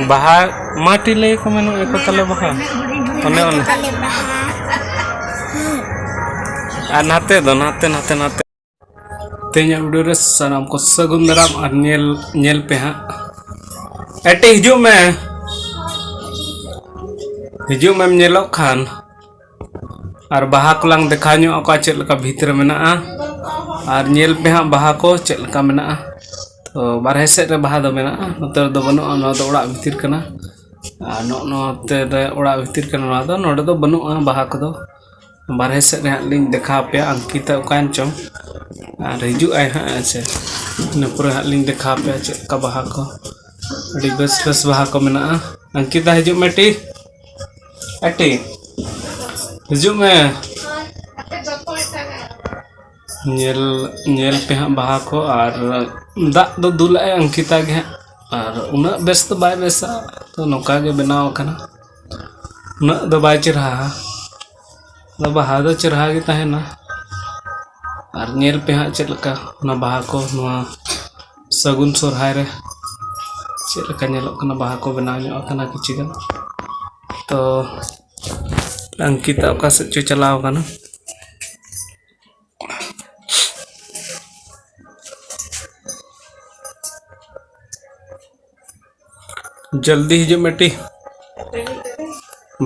ᱵᱟᱦᱟ ᱢᱟᱴᱤ ᱞᱟᱹᱭ ᱠᱚ ᱢᱮᱱᱚᱜ ᱮᱠᱚ ᱛᱟᱞᱮ ᱵᱟᱦᱟ ᱚᱱᱮ ᱚᱱᱟ ᱟᱨ ᱱᱟᱛᱮ ᱫᱚ ᱱᱟᱛᱮ ᱱᱟᱛᱮ ᱱᱟᱛᱮ ᱛᱮᱦᱮᱧ ᱵᱷᱤᱰᱤᱭᱳ ᱨᱮ ᱥᱟᱱᱟᱢ ᱠᱚ ᱥᱟᱹᱜᱩᱱ ᱫᱟᱨᱟᱢ ᱟᱨ ᱧᱮᱞ ᱧᱮᱞ ᱯᱮ ᱦᱟᱸᱜ ᱮᱴᱮ ᱦᱤᱡᱩᱜ ᱢᱮ ᱦᱤᱡᱩᱜ ᱢᱮᱢ ᱧᱮᱞᱚᱜ ᱠᱷᱟᱱ ᱟᱨ ᱵᱟᱦᱟ ᱠᱚᱞᱟᱝ ᱫᱮᱠᱷᱟᱣ ᱧᱚᱜ ᱟᱠᱚᱣᱟ ᱪᱮᱫ ᱞᱮᱠᱟ ᱵᱷᱤᱛ ᱨᱮ ᱢᱮᱱᱟᱜᱼᱟ ᱟᱨ ᱧᱮᱞ ᱯᱮ ᱦᱟᱸᱜ ᱵᱟᱦᱟ ᱠᱚ ᱪᱮᱫ ᱞᱮᱠᱟ ᱢᱮᱱᱟᱜᱼᱟ ᱛᱚ ᱵᱟᱨᱦᱮ ᱥᱮᱫ ᱨᱮ ᱵᱟᱦᱟ ᱫᱚ ᱢᱮᱱᱟᱜᱼᱟ ᱱᱚᱛᱮ ᱨᱮᱫᱚ ᱵᱟᱹᱱᱩᱜᱼᱟ ᱱᱚᱣᱟ ᱫᱚ ᱚᱲᱟᱜ ᱵᱷᱤᱛᱤᱨ ᱠᱟᱱᱟ ᱟᱨ ᱱᱚᱜᱼᱚ ᱱᱚᱛᱮ ᱨᱮ ᱚᱲᱟᱜ ᱵᱷᱤᱛᱤᱨ ᱠᱟᱱᱟ ᱱᱚᱣᱟ ᱫᱚ ᱱᱚᱰᱮ ᱫᱚ ᱵᱟᱹᱱᱩᱜᱼᱟ ᱵᱟᱦᱟ ᱠᱚᱫᱚ ᱵᱟᱨᱦᱮ ᱥᱮᱫ ᱨᱮ ᱦᱟᱸᱜ ᱞᱤᱧ ᱫᱮᱠᱷᱟᱣ ᱟᱯᱮᱭᱟ ᱟᱝᱠᱤᱛᱟ ᱚᱠᱟᱭᱮᱱ ᱪᱚᱝ ᱟᱨ ᱦᱤᱡᱩᱜ ᱟᱭ ᱦᱟᱸᱜ ᱦᱮᱸ ᱥᱮ ᱤᱱᱟᱹ ᱯᱚᱨᱮ ᱦᱟᱸᱜ ᱞᱤᱧ ᱫᱮᱠᱷᱟᱣ ᱟᱯᱮᱭᱟ ᱪᱮᱫ ᱞᱮᱠᱟ ᱵᱟᱦᱟ ᱠᱚ ᱟᱹᱰᱤ ᱵᱮᱥ ᱵᱮᱥ ᱵᱟᱦᱟ ᱠᱚ ᱢᱮᱱᱟᱜᱼᱟ ᱟᱝᱠᱤᱛᱟ ᱦᱤᱡᱩᱜ ᱢᱮ ᱴᱤ ᱮᱴᱤ ᱦᱤᱡᱩᱜ ᱢᱮ ᱧᱮᱞ ᱧᱮᱞ ᱯᱮ ᱦᱟᱸᱜ ᱵᱟᱦᱟ ᱠᱚ ᱟᱨ ᱫᱟᱜ ᱫᱚ ᱫᱩᱞᱟᱜᱼᱟᱭ ᱚᱝᱠᱤᱛᱟ ᱜᱮ ᱦᱟᱸᱜ ᱟᱨ ᱩᱱᱟᱹᱜ ᱵᱮᱥ ᱫᱚ ᱵᱟᱭ ᱵᱮᱥᱟ ᱛᱚ ᱱᱚᱝᱠᱟ ᱜᱮ ᱵᱮᱱᱟᱣ ᱠᱟᱱᱟ ᱩᱱᱟᱹᱜ ᱫᱚ ᱵᱟᱭ ᱪᱮᱨᱦᱟᱣᱟ ᱟᱫᱚ ᱵᱟᱦᱟ ᱫᱚ ᱪᱮᱨᱦᱟ ᱜᱮ ᱛᱟᱦᱮᱱᱟ ᱟᱨ ᱧᱮᱞ ᱯᱮ ᱦᱟᱸᱜ ᱪᱮᱫ ᱞᱮᱠᱟ ᱚᱱᱟ ᱵᱟᱦᱟ ᱠᱚ ᱱᱚᱣᱟ ᱥᱟᱹᱜᱩᱱ ᱥᱚᱦᱨᱟᱭ ᱨᱮ ᱪᱮᱫ ᱞᱮᱠᱟ ᱧᱮᱞᱚᱜ ᱠᱟᱱᱟ ᱵᱟᱦᱟ ᱠᱚ ᱵᱮᱱᱟᱣ ᱧᱚᱜ ᱟᱠᱟᱱᱟ ᱠᱤᱪᱷᱩ ᱜᱟᱱ ᱛᱚ ᱚᱝᱠᱤᱛᱟ ᱚᱠᱟ ᱥᱮᱫ ᱪᱚᱭ ᱪᱟᱞᱟᱣ ᱠᱟᱱᱟ ᱡᱚᱞᱫᱤ ᱦᱤᱡᱩᱜ ᱢᱮᱴᱤ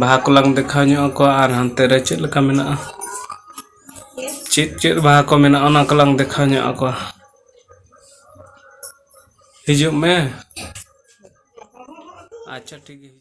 ᱵᱟᱦᱟ ᱠᱚᱞᱟᱝ ᱫᱮᱠᱷᱟᱣ ᱧᱚᱜ ᱟᱠᱚᱣᱟ ᱟᱨ ᱦᱟᱱᱛᱮ ᱨᱮ ᱪᱮᱫ ᱞᱮᱠᱟ ᱢᱮᱱᱟᱜᱼᱟ ᱪᱮᱫ ᱪᱮᱫ ᱵᱟᱦᱟ ᱠᱚ ᱢᱮᱱᱟᱜᱼᱟ ᱚᱱᱟ ᱠᱚᱞᱟᱝ ᱫᱮᱠᱷᱟᱣ ᱧᱚᱜ ᱟᱠᱚᱣᱟ ᱦᱤᱡᱩᱜ ᱢᱮ ᱟᱪᱪᱷᱟ ᱴᱷᱤᱠ ᱜᱮᱭᱟ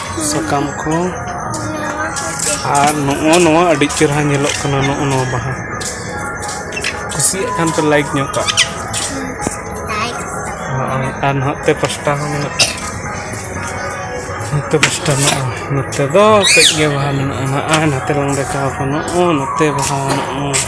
ᱥᱟᱠᱟᱢ ᱠᱚ ᱟᱨ ᱱᱚᱜᱼᱚ ᱱᱚᱣᱟ ᱟᱹᱰᱤ ᱪᱮᱦᱨᱟ ᱧᱮᱞᱚᱜ ᱠᱟᱱᱟ ᱱᱚᱜᱼᱚ ᱱᱚᱣᱟ ᱵᱟᱦᱟ ᱠᱩᱥᱤᱭᱟᱜ ᱠᱷᱟᱱ ᱯᱮ ᱞᱟᱭᱤᱠ ᱧᱚᱜ ᱠᱟᱜ ᱱᱚᱜᱼᱚᱭ ᱟᱨ ᱱᱚᱛᱮ ᱯᱟᱥᱴᱟ ᱦᱚᱸ ᱢᱮᱱᱟᱜᱼᱟ ᱱᱚᱛᱮ ᱯᱟᱥᱴᱟ ᱢᱮᱱᱟᱜᱼᱟ ᱱᱚᱛᱮ ᱫᱚ ᱠᱟᱹᱡ ᱜᱮ ᱵᱟᱦᱟ ᱢᱮᱱᱟᱜᱼᱟ ᱱᱚᱜᱼᱚᱭ ᱱᱚᱛᱮ ᱞᱟᱝ ᱫᱮᱠᱷᱟᱣ ᱠᱟᱱᱟ ᱱᱚᱜᱼᱚ ᱱᱚᱛᱮ ᱵᱟᱦᱟ ᱢᱮᱱᱟᱜᱼᱟ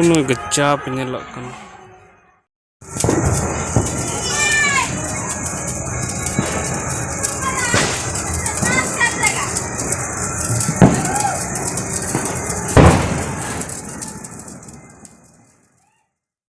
ᱩᱱᱟᱹᱜ ᱪᱟᱯ ᱧᱮᱞᱚᱜ ᱠᱟᱱᱟ